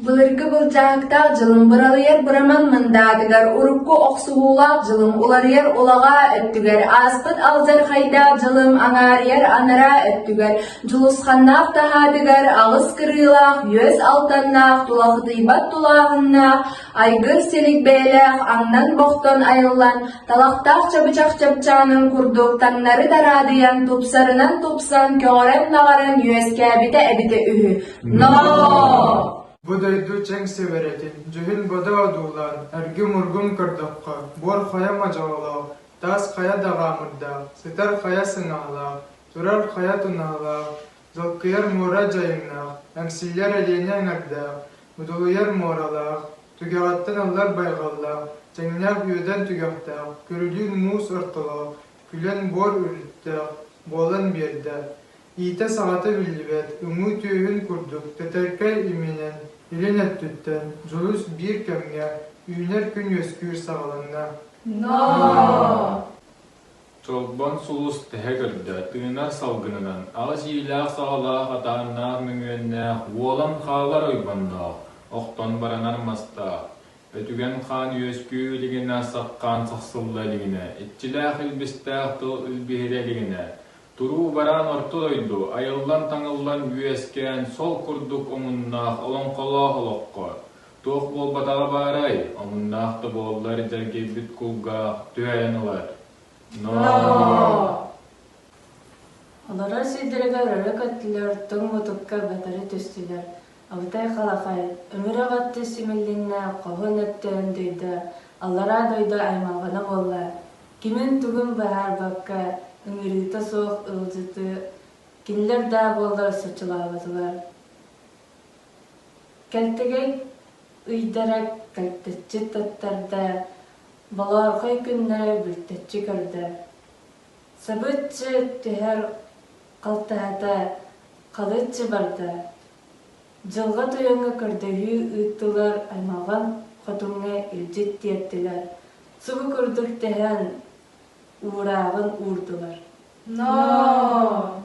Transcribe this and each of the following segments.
Былыргы былдьаһыктаах дьылым быралыйар быраман мындаатыгар урукку охсуһуулаах дьылым уларыйар улаҕаа өттүгэр ааспыт алдьархайдаах дьылым аҥаарыйар анараа өттүгэр дьулусханнаах таһаатыгар аҕыс кырыылаах үөс алтаннаах тулахытыйбат тулааһыннаах Айгыр силик бэйэлээх аҥнан бохтон айыллан, талахтаах чабычах чапчаанын курдук таҥнары дараадыйан, тупсарынан тупсан, көҕөрөн-наҕаран үөскээбитэ эбитэ үһү. Ноо! Бу дойду чэҥ сибэрэтин, дьүһүн бодо одуулаан, эргим-ургум көрдөххө, буор хайа модьоолоох, таас хайа даҕаамырдаах, сытар хайа сыҥаһалаах, турар хайа тунаһалаах, Долгуйар муора дьайыҥнаах, Эмсиллэр Элиэнэ эҥэрдээх, Удулуйар муоралаах, Түгэҕиттэн ыллар байҕаллаах, Тэҥнээх Үөдэн түгэхтээх, Көрүлүүн муус ортолоох, Күлэн буор үрүттээх, Буолан биэрдэ. Иитэ саҕата биллибэт, Уҥуу түөһүн курдук, Тэтэркэй иминэн, Илин өттүттэн, Дьулус биир кэмҥэ, Үүнэр күн үөскүүр саҕаланна. Ноо! Чолбон сулус тэһэ көрдө, тыынар салгынынан, аҕыс иилээх-саҕалаах атааннаах мөҥүөннээх, уолан хаалар ойбонноох, охтон баранар мастаах, өтүгэн хаан үөскүү илигинэ, сах хаан сахсылла илигинэ, иччилээх илбистээх тыл илбиһирэ илигинэ, туруу-бараан орто дойду, айыллан-таҥыллан үөскээн, сол курдук омуннаах олоҥхолоох олоххо, Туох буолбатаҕа баарай, омуннаах да буоллар дьэлгийбит кулгаах түһэйэн ылар. Ноо! Олорор сирдэригэр өрө көттүлэр, тоҥ мутукка батары түстүлэр. Алытай Халахай, өҥүрэх аттыы симиллиннэ, хоһун өттөөн дойда, аллараа дойду аймалҕана буолла. Кимин-тугун быһаарбакка, ыҥырыыта суох ыалдьытыы, кинилэр даа буоллар соччолооботулар. Кэлтэгэй ыйдара кэлтэччи таттарда, балаархай күннэ бүлтэччи көрдө. Сабыччы түһэр халтаһата халыччы барда. Дьылҕа тойоҥҥо көрдөһүү ыыттылар аймаҕын хотуҥҥа илдьит тиэртилэр, субу курдук тэһэн уурааҕын уурдулар. Ноо!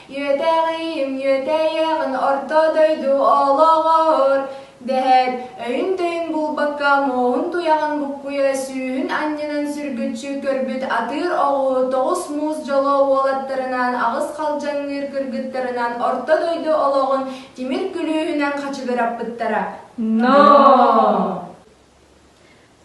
Үөтэҕиим үөтэйэҕин орто дойду олоҕор дэһэр өйүн-төйүн булбакка муоһун туйаҕын буккуйа сүүһүн анньынан сүргүччү көрбүт атыыр оҕуһу тоҕус муус дьоло уолаттарынан аҕыс халдьаҥныыр кыргыттарынан орто дойду олоҕун тимир күлүүһүнэн хачыгыраппыттара ноо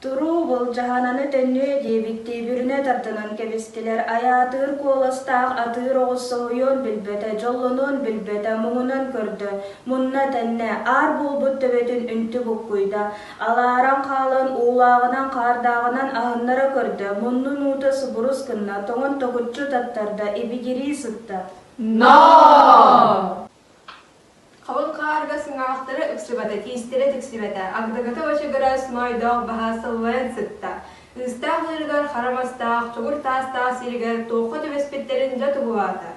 Туруу, былдьаһананы төннүө диэбиттии бүрүнэ тардынан кэбистилэр. Айаатыыр куоластаах атыыр оҕус соһуйуон билбэтэ, дьоллонуон билбэтэ, муҥунан көрдө. Мунна тэннэ, аар буолбут төбөтүн үнтү буккуйда. Алааран хаалан, уулааҕынан хаардааҕынан аһыннара көрдө, муннун уута субурус гынна, тоҥон токуччу таттарда, ибигирии сытта. «Ноо!» Халыҥ хаарга сыҥаахтара ыксыбата, тиистэрэ тиксибэтэ, агдагата бачыгырас, маайдаах баһа сыллайан сытта. Ыыстаах ыырыгар хара мастаах, чугур таастаах сиригэр туохха түбэспиттэрин дьэ туһулаата.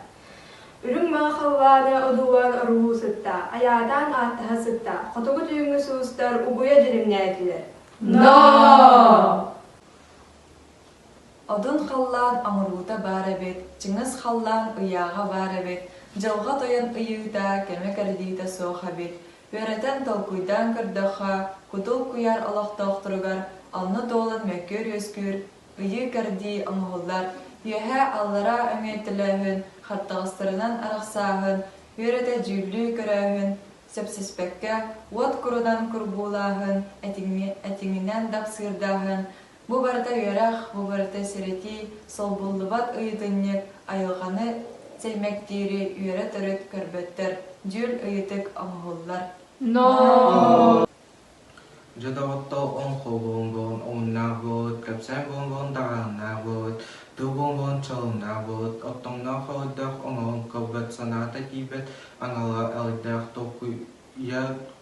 Үрүҥ маҥа халлааны одуулаан оруһуу сытта, айаатаан ааттаһа сытта, хотугу түүҥҥү суустар угуйа дьиримнээтилэр. Ноо! Одун халлаан оҥоруута баар эбит, чыҥыс халлаан ыйааҕа баар эбит, дьылҕа тойон ыйыыта, кэмэ кэрдиитэ суох эбит. Үөрэтэн толкуйдаан көрдөххө, кутул куйаар олохтоохторугар онно туолан мөккүөр-үөскүүр, ыйыы-кэрдии оҥоһуллар, үөһээ-аллараа өҥөй төлөөһүн, хаптаҕастарынан арахсааһын, үөрэтэ дьүүллүү көрөөһүн, сөпсүспэккэ, уот курунан курбуулааһын, этиҥинэн дапсыырдааһын, Бу барыта үөрэх, бу барыта сэрэтии, солбуллубат ыйытынньык, айылҕаны сэлмэктиири үөрэ төрүт көрбөттөр, дьүл ыйытык оҥоһуллар. Но. Дьэ доҕоттор, оҥ холбоомбон омуннаах буолут, кэпсээн буомбон даҕааннаах буолут, тыл буомбон чалымнаах буолут, оттоҥноох элбэх омоҕон көрбөт санаата тиийбэт аналга элбэх толкуйа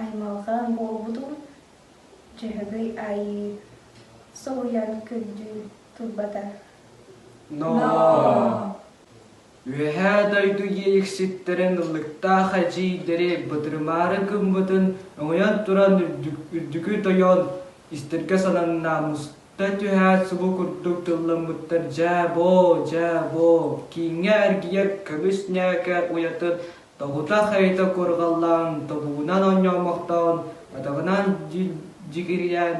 Аймалҕан буолбутум, Дьөһөгөй Айыы соһуйан күндүү турбата. Ноо! Үөһээ дойду иэйикситтэрин ыллыктаах эдьиийдэри бытырымаары гыммытын өҥөйөн туран үрдүкү тойон истэргэ сананнамыста түһээт субу курдук тылламмыттар дьээ боо дьээ боо кииҥҥэ эргийэр көмүс ньээкэ уйатын Тобута хайыта куорҕаллаан, тобугунан онньоомохтоон, атаҕынан дьигирийэн,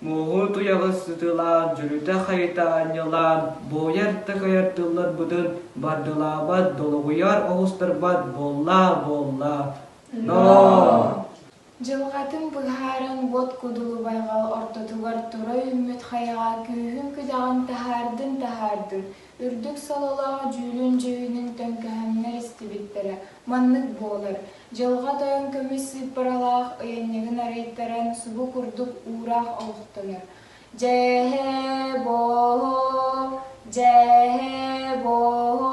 муоһу туйаҕы сытыылаан, дьөлүтэ-хайыта анньылаан, буойар-такайар тылларбытын бардылаабат, долоҕуйар оҕустарбат буоллаа-буоллаа, ноо! Дьылҕатын быһааран Уот Кудулубайга ортотугар тура үүммүт хайаҕа күүһүн-күдэҕин таһаардын-таһаардын, үрдүк сололоох дьүүлүн-дьүһүнүн төҥкөһөҥнөр истибиттэрэ маннык буолар, Дьылҕа Тойон көмүс сыыппаралаах ыйанньыгын арыйтаран субу курдук уураах олохтонор. Дьээһэ-бооһо, дьээһэ-бооһо,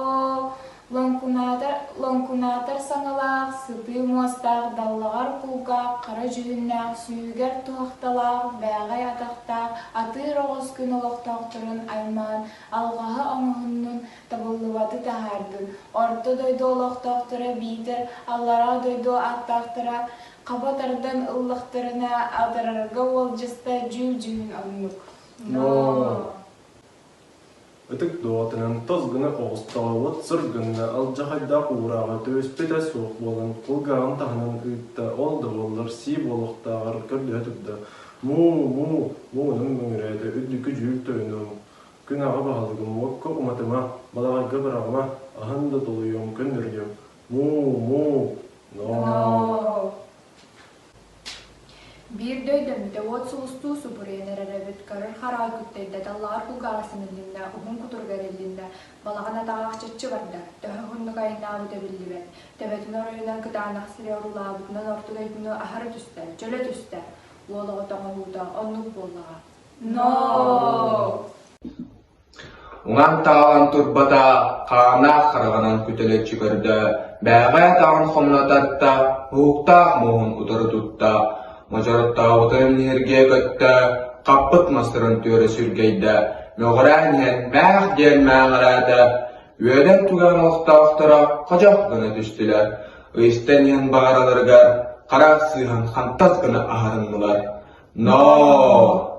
лоҥкунаатар-лоҥкунаатар саҥалаах, сытыы муостаах, даллаҕар кулгаах, хара дьүһүннээх, сүүһүгэр туһахталаах, бээҕэй атахтаах, атыыр оҕус күн олохтоохторун аймаан, алҕаһы оҥоһуннун, табыллыбаты таһаардын. Орто дойду олохтоохторо биитэр аллараа дойду ааттаахтара Хаба тардан ыллахтарына атарарга уолдьаста дьүүл-дьүһүн оннук. Ноо. Ытык доҕотунан тос гына оҕустаҕалыт сыр гынна, алдьархайдаах уурааҕа түбэспитэ суох буолан, кулгааҕын таһынан ыытта, ол да буоллар сии буолуохтааҕар көрдөһө турда, Муу, муу, муунун мөҥүрээтэ үрдүкү дьүүл тойонум, күн аҕа баһылыгым уокка уматыма, балаҕайга быраҕыма, аһын да толуйуом, көннөрүлүөм, Муу-муу, ноо. Биир да өйдөммүтэ уот сулустуу субуруйан эрэр эбит, көрөр хараҕы күктэйбэтэ лаар кулгааҕар симиллиннэ, уһун кутуруга эриллиннэ, балаҕан атаҕаах чаччы барда, төһө уһуннук айаннаабыта биллибэт, төбөтүн оройунан кытаанах сири оруулаабытынан орту дойдуну аһара түстэ, чөлө түстэ, уол оҕо тоҥоһуута оннук буоллаҕа. Ноо! Уҥан-таҥалан турбата хааннаах хараҕынан күтэлэччи көрдө, бээҕэ атаҕын хомунататта, уһуктаах муоһун утары тутта, модьороттообутун ньиргийэ көттө, хаппыт мастарын түөрэ сүргэйдэ, мөҕүрээн иһэн «мээх» диэн мээҕэрээтэ, үөдэн туган олохтоохторо ходьох гына түстүлэр, ыйыстан иһэн баҕараларыгар харах сыыһан хантас гына аһарыннылар: «Ноо!»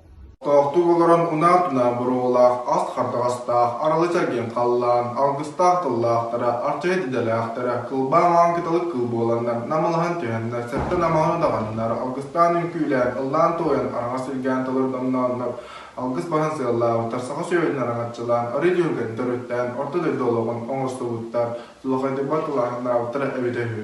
Тохтуу олорон унаа-тунаа боруобалаах ас хардаҕастаах аралы чэргин халлаан алгыстаах тыллаахтара, арчайыт идэлээхтэрэ, кылбаан аан кыталык кыл буоланнар, намылаһан түһэннэр, сэттэн амаҕы даҕаннар, алгыстаан үҥкүүлээн, ыллаан-туойан араҥас илгээн толордомнооннор, алгыс баһын сыаллаабыттар саха сүөһүтүн араҥаччылаан, арыы түһүлгэтин төрүттээн, орто дойду олоҕун оҥостубуттар, чуолкайдыыбар кылааһыннаабыттара эбитэ үһү.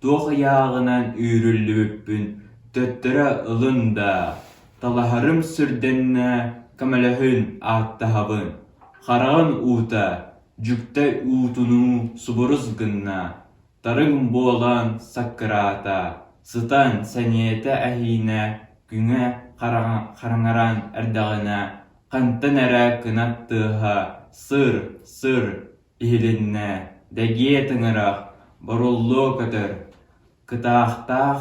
Туох ыйааҕынан үүрүллүбүппүн төттөрү ылын даа, талаһарым сүрдэннэ, көмөлөһөн ааттаһабын, хараҕын уута, дьүктэй уутунуу субурус гынна, тарыҥ буолан саккыраата, сытан сэниэтэ эһиинэ күҥэ хараҥаран эрдэҕинэ хантан эрэ кынат тыаһа сыр-сыр иһилиннэ, дэгиэ тыҥырах, боруллуо көтөр, кытаахтаах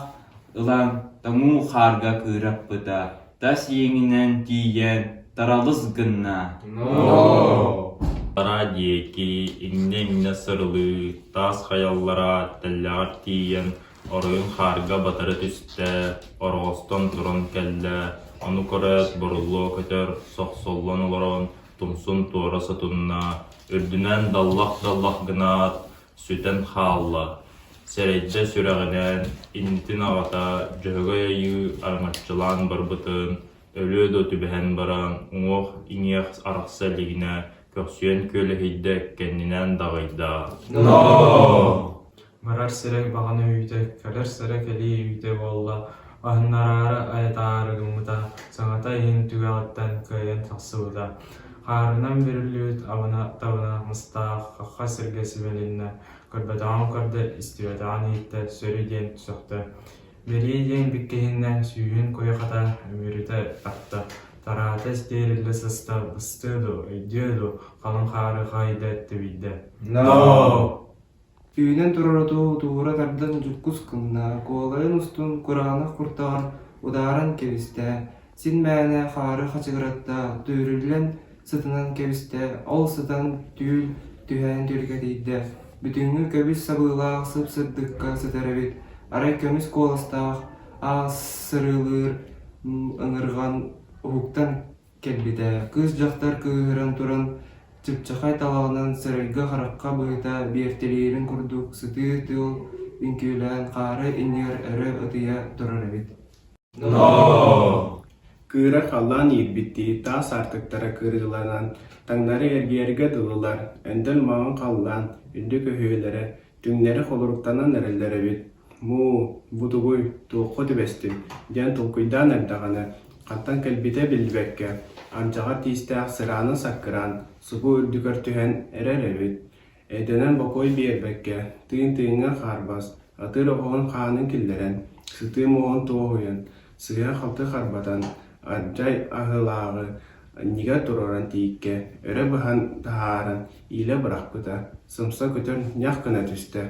ылан тоҥуу хаарга кыыраппыта, тас иэҥинэн тиийэн таралыс гынна. Араа диэки иннэ-иннэ сырылыы, таас хайаллара тэллэҕэр тиийэн оройун хаарга батары түстэ, ороҕостон туран кэллэ, ону көрөөт боруллуо көтөр сохсоллон олорон тумсун туора сотунна, үрдүнэн даллах-даллах гынаат, сүтэн хаалла. Сэрэйдьэ сүрэҕинээн, иннитин аҕата Дьөһөгөй Айыы араҥаччылаан барбытын, өлүө да түбэһэн баран, уҥуох-иҥиэх арахса илигинэ көхсүйэн күөлэһийдэ, кэннинээн даҕайда: «Ноо!» Барар сирэ баҕана үүтэ, кэлэр сирэ кэлии үүтэ буолла, аһыннараары айатаары гыммыта, саҥата иһин түгэҕиттэн кыайан тахсыбыта. Хаарынан бүрүллүбүт абына-табына мыстаах хахха сиргэ сибэлиннэ, көрбөтөҕүн көрдө, истибэтэҕин иһиттэ, сөрү диэн сөхтө. Бэлиэ диэн бүккэһиннэ, сүүһүн куйахата үмүрүтэ тарта, тараата истиэриллэ сыста, быстыа дуо, өйдүө дуо, халыҥ хаары хаайда, тэбийдэ. «Ноо!» Үүнэн турар оту утуура тардан дьуккус гынна, куолайын устун кураанах куртаҕын удааран кэбистэ, син мээнэ хаары хачыгыратта, түөрүллэн сытынан кэбистэ, ол сытан түүл түһээн түөлгэтийдэ. Бүтүҥҥү көбүс сабыылаах сып-сырдыкка сытар эбит, арай көмүс куоластаах аас сырыылыыр ыҥырҕан уһуктан Кэлбитэ, кыыс-дьахтар кыыһыран туран, чыпчахай талаҕынан сэрэйгэ-харахха быһыта биэртэлиирин курдук сытыы тыыл үҥкүүлээн хаары иннигэр өрө ытыйа турар эбит Кыыра халлаан иирбиттии таас аартыктара кырыыланан, таҥнары эргийэргэ дылылар, өндөл маҥан халлаан, үрдүк өһүөлэрэ, түҥнэри холуруктанан эрэллэр эбит Муу, бутугуй, туохха түбэстиҥ? диэн толкуйдаан эрдэҕинэ, хантан кэлбитэ биллибэккэ, алдьаҕар тиистээх сыраанын-саккыраан субу үрдүгэр түһэн эрэр эбит. Эрдэнэн бокуой биэрбэккэ, тыын-тыыҥҥа хаарбас, атыыр оһоҕун хаанын киллэрэн, сытыы муоһун туоһуйан, сыыһа-халты харбатан, адьай аһыылааҕы анньыга туруоран тииккэ өрө быһан таһааран иилэ бырахпыта, сымса көтөн ньах гына түстэ.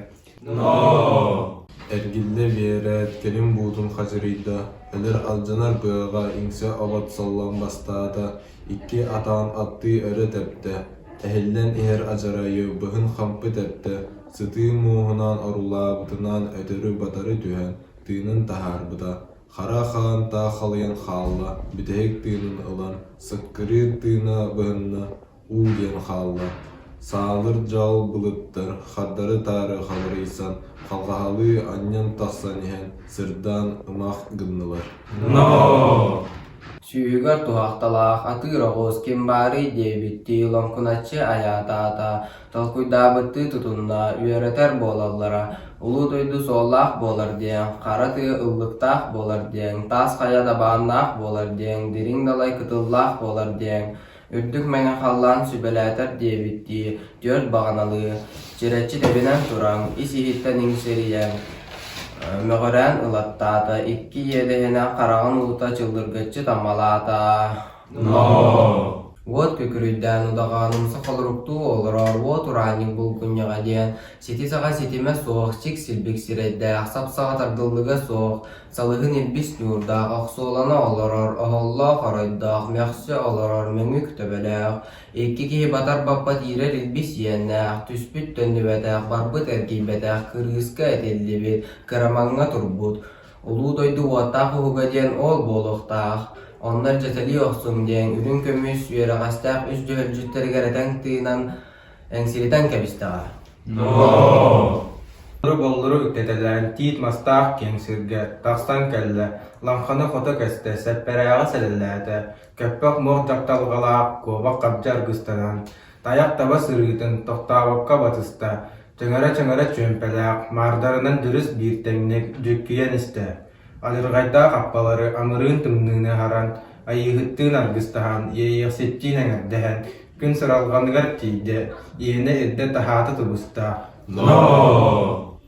Эргиллэ биэрээт, кэлим-буутун хадьырыйда, эдэр алдьанар быаҕа иҥсэ обот саллан бастаата, икки атаҕын аттыы өрө тэптэ, эһиллэн иһэр адьарайы быһын хампы тэптэ, сытыы мууһунаан орулаабытынан өтөрү-батары түһэн, тыынын таһаарбыта, хара хаантаах халыйан хаалла, бүтэһик тыынын ылан, сыккырыыр тыына быһынна, уу диэн хаалла. Саалыр дьаал былыттар хардары-таары халырыйсан, халҕаһалыы анньан тахсан иһэн, сырдаан ымах гыннылар. Ноо! Сүүһүгэр туһахталаах атыыр оҕуос ким баарый? диэбиттии лоҥкуначчы айаатаата. толкуйдаабыттыы тутунна, үөрэтэр буолаллара, улуу дойду суоллаах буолар диэн, хара тыа ыллыктаах буолар диэн, таас хайа дабааннаах буолар диэн, дириҥ далай кытыллаах буолар диэн, үрдүк мэҥэ халлаан сүбэлээтэр диэбиттии, түөрт баҕаналыы, чирэччи тэбинэн туран, ис-иһиттэн иҥсирийэн, мөҕүрээн ылаттаата, икки иэдэһинэ хараҕын уута чыллыргыччы таммалаата Уот күкүрүйдээн удаҕааным сохолоруктуу олорор уот ураанньык булгунньаҕа диэн сити-саҕа ситимэ суох сик-силбик сирэйдээх, сап-саҕа тардыллыга суох, салыһын илбис ньуурдаах охсуолана олорор оһоллоох оройдоох мөхсө олорор мөҥүк төбөлөөх, икки киһи батар баппат иирэр илбис иэннээх, түспүт төннүбэтэх, барбыт эргийбэтэх кырыыска этиллибит, кырамаҥҥа турбут Улуу дойду уоттаах уһуга диэн оол буолуохтаах, оннор дьэтэлии охсуҥ диэн үрүҥ көмүс үөрэҕэстээх үс дьөһөлдьүттэригэр этэн тыынан, эҥсилитэн кэбистэҕэ. Толору-боллору үктэтэлээн тиит мастаах киэҥ сиргэ тахсан кэллэ, лаҥханы хото кэстэ, сэппэрээҕи сэлэлээтэ, көппөх муох дьахталҕалаах куобах хабдьы аргыстанан, Тайах таба сырыытын, тохтообокко батыста, чыҥыра-чыҥыра чүөмпэлээх, маардарынан дьүрүс биир тэҥник дьүккүйэн истэ. Адьырҕайдаах аппалары амырыын тымныыны аһаран, айыыһыттыын аргыстаһан, иэйиэхситтиин эҥэрдэһэн, күн сыралҕаныгар тиийдэ, иэнэ ирдэ-таһаата тубуста: «Ноо!»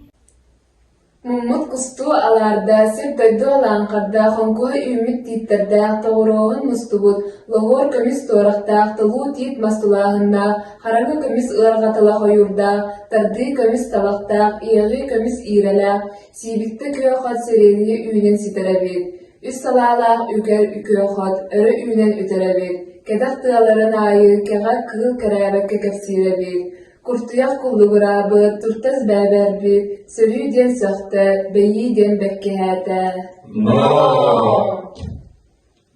Муммут кустуу алаарда, сир-дойду алааҥхардаах, хоҥкуһа үүммүт тииттэрдээх, тоҕурооһун мустубут, лоһуор көмүс туорахтаах, тылуу тиит мас тулааһыннаах, хараҥа көмүс ыарҕатыла хойуурдаах, тардыы көмүс табахтаах, иэҕии көмүс иирэлээх, сиибиктэ күө хот сирэйдии үүнэн ситэр эбит. Үс салаалаах үгэр үкүө хот, өрө үүнэн үтэр эбит. Кэтэх тыаларын аайы кэҕэ кыыл кэрээбэккэ кэпсиир эбит. Куртуйах куллугураабы, туртас бээбээрби, сөрүү диэн сөхтө, бэйии диэн бэккиһээтэ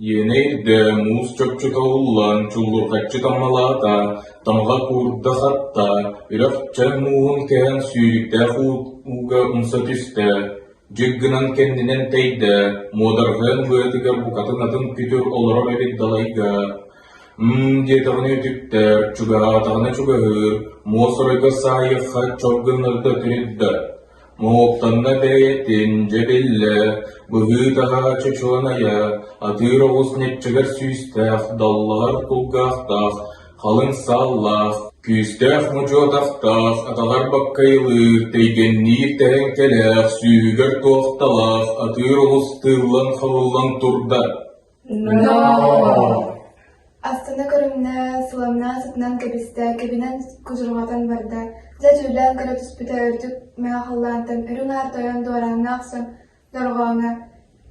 Иэнэй дэ муус чопчута уллан чуллурҕаччы таммалаата, тамга куурда хатта, үрэх чай мууһун кэһэн сүүрүктээх ууга умса түстэ. Дьик гынан кэннинэн тэйдэ, муодарҕайан быатыгар букатын атын күтүр олорор эбит далайга. Һыы диэтэҕинэ үтүктэр, чугаһаатаҕына чугаһыыр, муосурайга саайыахха чох гыннарыта тирит да, моһуоктанна бэйэтин, дьэ биллэ, быһыы-таһаа чочуланайа, атыыр оҕус ньаччыгар сүүстээх, даллаҕар кулгаахтаах, халыҥ сааллаах, күүстээх мучу атахтаах, атаҕар баккайылыыр, тэйгэнниир тэһэҥкэлээх, сүүһүгэр туохталаах, атыыр оҕус тыыллан-хабыллан турда Астына көрүҥнэ, суламнаа сытынан кэбистэ, кэбинэн кудурҕатан барда. Дьэ дьүүлээн көрө түспүтэ үрдүк мэҕэ халлаантан үрүҥ аар тойон дуорааҥҥа охсон дорҕооҥҥо,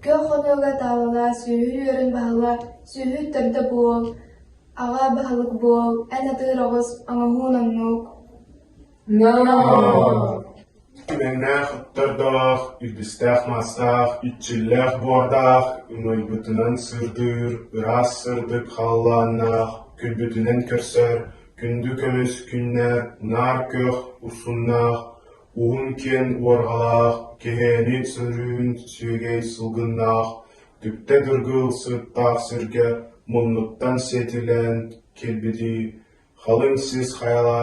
күөх хонуога таалала, сүөһү үөрүн баһыла, сүөһү төрдө буол, аҕа баһылык буол, эн атыыр оҕус, оҥоһуун оннук Түҥнээх ыттардаах, илбистээх маастаах, иччиллээх буордаах, ымыйбытынан сырдыыр, ыраас сырдык халлааннаах, күлбүтүнэн көрсөр, күндү көмүс күннэр, наар күөх урсуннаах, уһун киэн уорҕалаах, кэһээни сөрүүн сүөгэй сылгыннаах, түптэ дыргыл сыттаах сиргэ муннуктан сиэтилээн кэлбитий халыҥ сис хайала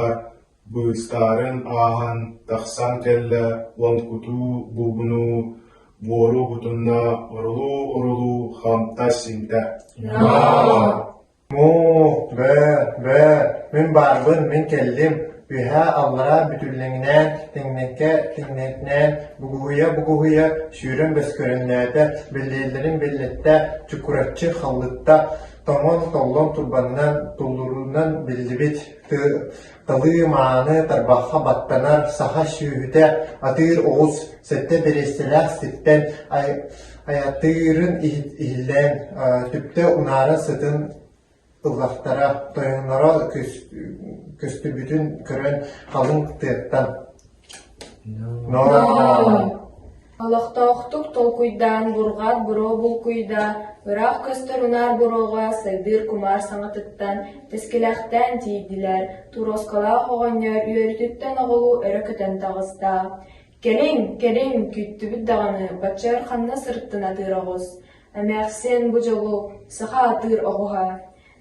быыстарын ааһан тахсан кэллэ уон кутуу бугунуу буору кутунна орулуу-орулуу хамта-симтэ «Муу, бээ, бээ, мин барбын, мин кэллим, үһээ аллараа бүтүллэҥинээн тэҥнэккэ тэҥнэтинээн бугуһуйа-бугуһуйа сүүрэн бөскөрүннээтэ, биллиэллэрин биллэттэ, чукураччы халлытта тоҥон толлон турбаннар туллуруунан биллибит тыы талыы мааны тарбахха баттанар саха сүөһүтэ атыыр оҕус сэттэ бириэстэлээх сиртэн айатыырын иһиллээн түптэ унаара сытын ыллахтара тойоноро көстүбүтүн көрөн халыҥ тыаттан Ноо-хоо Олохтоохтук толкуйдаан бурҕаат буруо булкуйда, ыраах көстөр унаар буруоҕа сайдыыр кумаар саҥатыттан тэскилэхтээн тиийдилэр, туруоскалаах оҕонньор үөрүүтүттэн оҕолуу өрө көтөн таҕыста. «Кэлиҥ, кэлиҥ, күүттүбүт даҕаны, баччар ханна сырыттын атыыр оҕус, эмээхсин бу дьолу саха атыыр оҕуһа»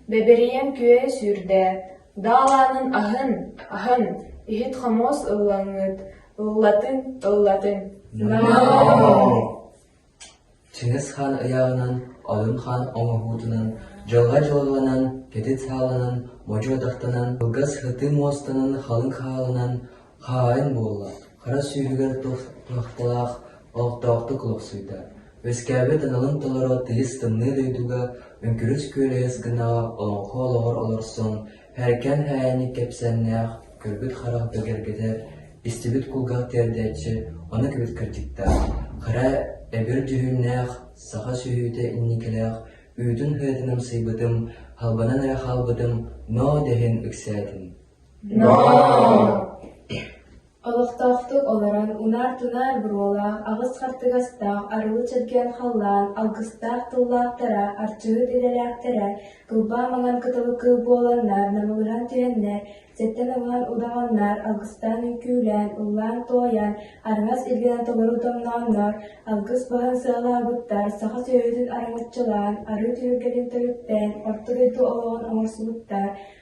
Бэбирийэн күөйэ сүүрдээт, Даалаанын аһын, аһын, иһит-хомуос ыллаҥыт, ыллатын, ыллатын. Чыҥыс хаан ыйааҕынан, Одун хаан оҥоһуутунан, дьылҕа дьылҕанан, кэтит сааланан, модьу атахтанан, кылгас һытыы муостанан халыҥ хаалынан, Хаайын буолла, хара сүүрүгэр туохталаах олохтоохтук олохсуйда, үөскээбит аналын толоро тыйыс тымныы дойдуга Өҥкүрүс күөлэһис гынаҕа олоҥхо олоҕор олорсон, һэркэн һээйини кэпсээннээх көрбүт харах бэгэргэтэр, истибит кулгах тиэрдээччи ону кэбит кырдьыктаах, хара эбир дьүһүннээх саха сүһүүтэ инникилээх үүтүн-ыһыытын амсайбытым, халбанан эрэ хаалбытым, ноо дэһин ыксээтим Олохтоохтук олорон унаар-тунаар буруолаах, аҕыс хартыгастаах, арылы чэргээн халлаан, алгыстаах тыллаахтара, арчыһыт идэлээхтэрэ, тылбаа маҥан кытылы кыыл буоланнар намылыран түһэннэр, сэттэн ылаан удаҕаннар, алгыстаан үҥкүүлээн, ыллаан-туойан, араҥас илгэнэ толору томнооннор, алгыс баһын сыалаабыттар, саха сүөһүтүн араҥаччылаан, арыы түһүлгэтин төрүттээн, орто дойду олоҕун оҥорсубуттар,